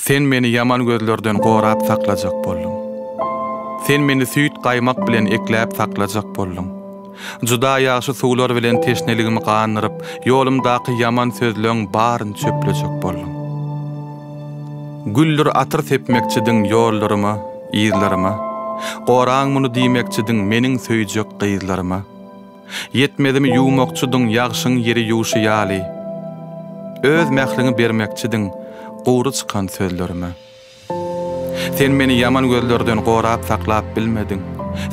Sen meni ýaman gözlerden gorap saklajak bolduň. Sen meni süýt-gaýmak bilen ekläp saklajak bolduň. Juda ýagşy suwlar bilen teşneligimi gandyryp, ýolumdaky ýaman sözleň baryny çöplejek bolduň. Güldür atyr sepmekçidiň ýollaryma, yzlaryma. Goraň muny diýmekçidiň meniň söýjek gyzlaryma. Ýetmezimi ýuwmakçydyň ýagşyň ýeri ýuwşy ýaly. Öz mähriňi bermekçidiň gury çykan sözlerime. Sen meni ýaman gözlerden gorap saklap bilmediň.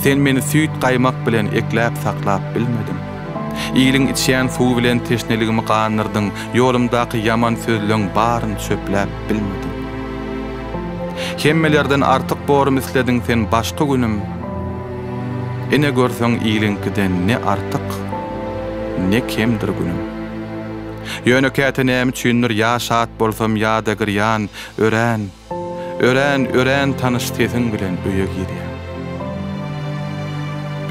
Sen meni süýt-gaýmak bilen ekläp saklap bilmediň. Iliň içýän suwy bilen teşneligimi gandyrdyň, ýolumdaky ýaman sözleň baryny çöpläp bilmediň. Hemmelerden artyk borum islediň sen başky günüm. Ine görseň iliňkiden ne artyk, ne kemdir günüm. Ýöne käte näme üçindir ýa şat bolsam ýa-da girýan, örän, örän, örän tanyş sesiň bilen öýe girýän.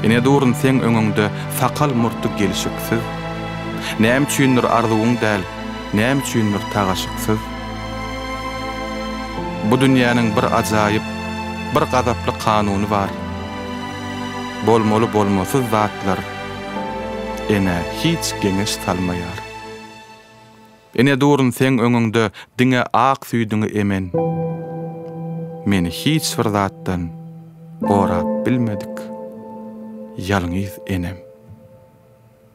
Ine durun seň öňüňde sakal-murty gelşiksiz, näme üçindir arzuwyň däl, näme üçindir tagaşyksyz. Bu dünýäniň bir ajaýyp, bir gazaply kanuny bar. Bolmaly-bolmasyz zatlar enä hiç geňeş salmaýar. Ene durun seň öňüňde diňe ak süýdüňi emen. Meni hiç bir zatdan gorap bilmedik ýalňyz enem.